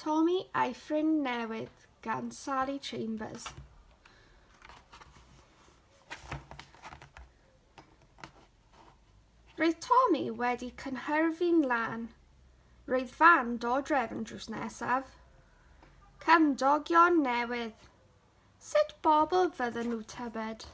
Tommy a'i ffrind newydd gan Sally Chambers. Roedd Tommy wedi cynhyrfu'n lan. Roedd fan do drefn drws nesaf. Cymdogion newydd. Sut bobl fydden nhw tybed?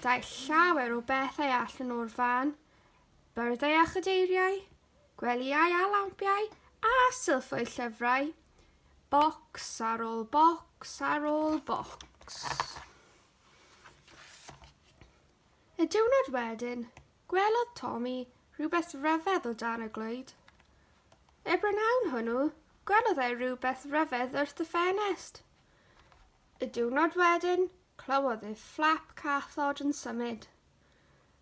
Daeth llawer o bethau allan o'r fan, byrddau a chadeiriau, gwelyau a lampiau a sylffoedd llyfrau, bocs ar ôl bocs ar ôl bocs. Y diwrnod wedyn, Gwelodd Tommy rywbeth ryfedd o dan y glöyd. Er brynawn hwnnw, gwelodd e rywbeth ryfedd wrth y ffenest. Y diwrnod wedyn, clywodd e fflap cathod yn symud.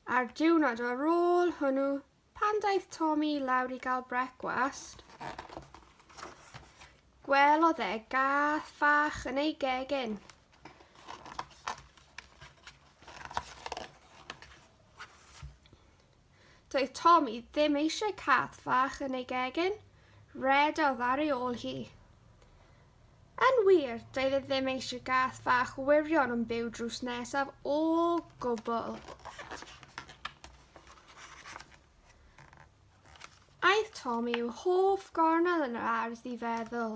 A'r diwrnod ar ôl hwnnw, pan daeth Tommy lawr i gael brecwast, gwelodd e gath fach yn ei gegin. Doedd Tommy ddim eisiau cath fach yn ei gegin, rhedodd ar ei ôl hi. Yn wir, doedd e ddim eisiau gath fach wirion yn byw drws nesaf o gwbl. Aeth Tommy i'w hoff gornel yn yr ardd i feddwl.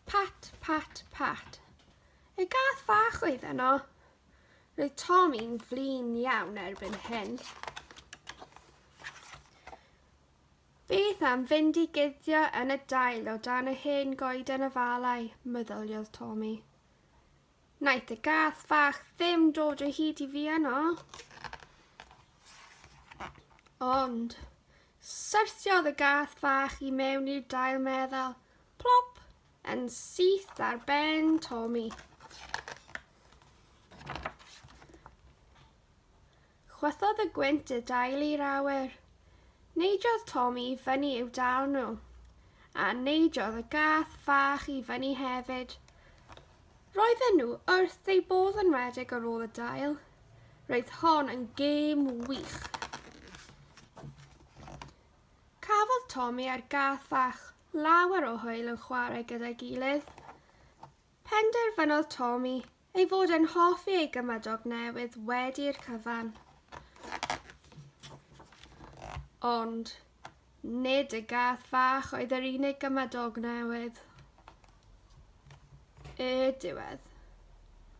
Pat, pat, pat. Ei gath fach oedd yno. Roedd Tom i'n flin iawn erbyn hyn. Beth am fynd i guddio yn y dail o dan y hen goed yn y falau, meddyliodd Tommy. Naeth y gath fach ddim dod o hyd i fi yno. Ond, syrthiodd y gath fach i mewn i'r dail meddal, plop, yn syth ar ben Tommy. Chwythodd y gwynt y dail i'r awyr. Neidiodd Tom i fyny i'w dal nhw. A neidiodd y gath fach i fyny hefyd. Roedden nhw wrth eu bodd yn rhedeg ar ôl y dail. Roedd hon yn gêm wych. Cafodd Tommy a'r gath fach lawer o hwyl yn chwarae gyda'i gilydd. Penderfynodd Tommy Ei fod e'n hoffi ei gymadog newydd wedi'r cyfan. Ond nid y gath fach oedd yr unig gymadog newydd. Y diwedd.